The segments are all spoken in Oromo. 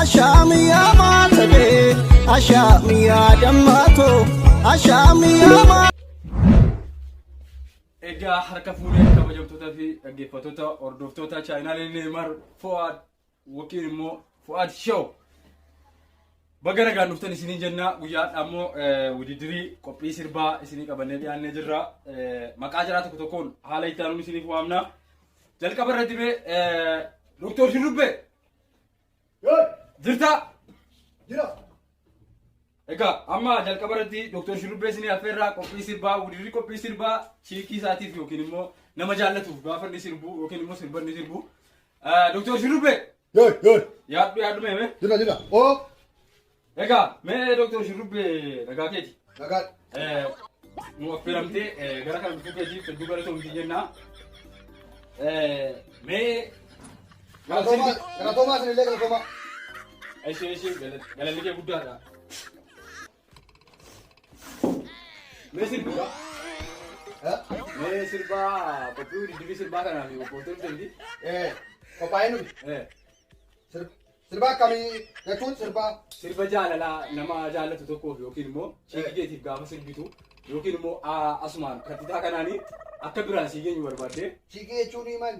Ashaam yaa maatadee ashaam yaa dammaatoo ashaam yaa maa. Egaa harka fuudhee kabajamtootaa fi dhaggeeffattoota hordoftoota chaayinaalee Neemar Fo'aad yookiin immoo Fu'aad Show baga nagaan dhuftan isiniin jennaa guyyaa har'aa immoo wudidirii qophii sirbaa isinii qabannee dhiyaannee jirra maqaa jaraa tokko tokkoon haala itti aanuun isiniif waamna jalqaba irratti mee doktor Shurrubbee Yoo jirtaa jira Egaa amma jalqaba irratti Dr. Shurrubbee isinii affeerraa qophii sirbaa wudirri qophii sirbaa chiikii isaatiif yookiin immoo nama jaallatuuf gaafa inni sirbu yookiin immoo sirba inni sirbu. Dr. Shurrubbee Yoy, yoy, yaaddu yaaddu mee mee. jira, jira. Oo, Egaa mee Dr. Shurrubbee nagaa keeti. nagaa. Eh, nu affeeramtee eh, gara kana dhufuu keetiif hedduu galatoomti jenna. Eh, Mee Galatoomaa galatoomaa isinillee galatoomaa. Eshi eshi galanni kee guddaadha. Mee sirbaa. Mee sirbaa qophii diddibii sirbaa kanaaf qophooftoon jirti. Eh qophaa'ee nuti. Eh Sirba akkamii jechuun sirba sirba jaalalaa nama jaallatu tokkoof yookiin immoo ciitii keetiif gaafa sirbitu yookiin immoo asumaan kattitaa kanaanii akka biraan sii geenyu barbaaddee. ciiqii jechuun maali?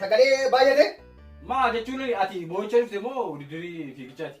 Sagalee baay'ate. Maa jechuun ati boo'icha dhufte moo didirii fiigichaati?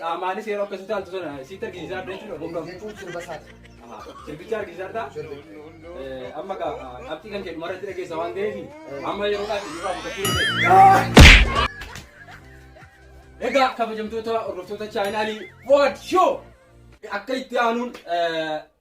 Qaamaanis yeroo akkasii taaltu sana sitti argisiisaa adda jechuudha. Humna fuuchuun sirba isaati. Sirbicha argisiisaa adda. Amma gaa qabxii kan kennu marratti dhageessa waan ta'eef amma yeroo dhaabbii nurraa mudachuu dandeenya. Egaa kabajamtoota hordoftoota chaayinaalii Wood Show akka itti aanuun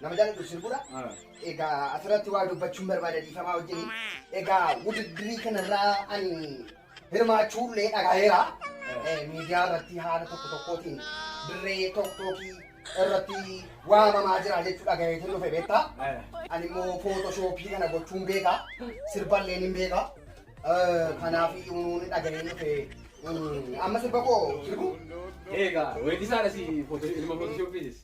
Nama jaaladhu sirbudha. Egaa asirratti waa dubbachuun barbaada dhiifamaa wajjin. Egaa wudiddirii kanarraa ani hirmaachuullee dhagaheera. Eh, Miidiyaa irratti haala tokko tokkootiin dirree tokkookii irratti waamamaa jira jechuu dhagaheetiin dhufe beektaa. Ani immoo footoshoopii kana gochuun beeka. Sirballeen hin beeka. Eh, Kanaaf uumuun dhagahee dhufe. Mm, Amma sirba koo sirbu. Egaa weeddisaadha si footoo ilma footoshooppiitis.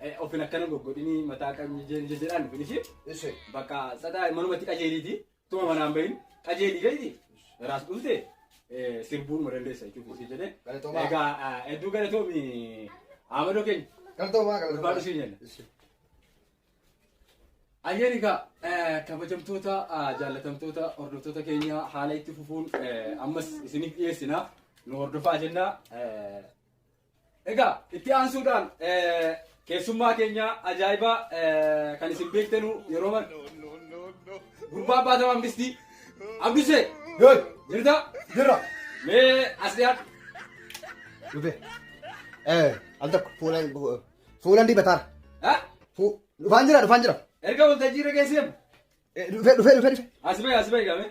Eh, Ofin akkana goggodhini mataa qabni jeen jeen jedhaan dhufin ishee. Ese. Bakka sadaa manumatti qajeeliiti. Tuma manaan bahin qajeeli beekti. Raas dhufte eh, sirbuun ma dandeessa jechuudha ishee jedhee. Galatoomaa. Egaa ah, hedduu galatoomi Amadoo keenya. Galatoomaa galatoomaa. Ulfaadhu siin jenna. Ese. Ayyaani egaa eh, kabajamtoota ah, jaallatamtoota hordoftoota keenya haala itti fufuun eh, ammas isiniif dhiyeessina nu hordofaa jenna. Eh, Egaa itti aansuudhaan keessummaa keenya ajaa'ibaa kan isin beektanu yeroo mana gurbaa abbaa tamaa mistii abdusee Hey, jirta jirra. mee as dhiyaadhu Dhufe. Eh, al tokko fuula fuulan dibataara. Ha? Fu dhufaan jira dhufaan jira. erga waltajjii irra geessee Eh, Dhufe dhufe dhufe dhufe. as bahi as bahi gaamee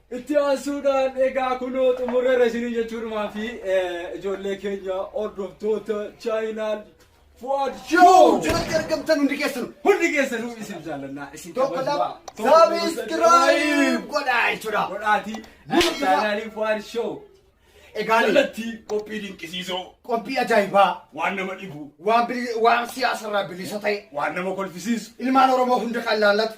Itti aansuudhaan egaa kunoo xumurreerra isinii jechuudhumaa fi ijoollee keenya hordoftoota chaayinaal Fuad Show jalatti argamtan hundi keessanu hundi keessanu isin jaalannaa isin tokko lama sabiskiraayib godhaa jechuudha. Godhaatii chaayinaaliin Fuad Show Egaa jalatti qophii dinqisiisoo qophii ajaa'ibaa waan nama dhibu waan siyaasarraa bilisa ta'e waan nama kolfisiisu ilmaan Oromoo hunda kan laallatu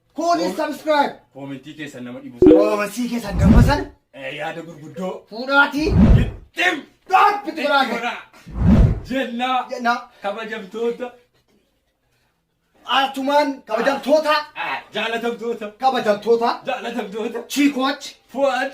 Kuunis subscribe. Koomentii keessan nama dhibu sana. Koomentii keessan nama sana. Eh, yaada gurguddoo. Fuudhaatii. Gittim. Dhaabbi turaa gara. Jennaa. Jennaa. Kabajamtoota. Atumaan kabajamtoota. Jaalatamtoota. Kabajamtoota. Jaalatamtoota. Chiikooch. Fuwaad.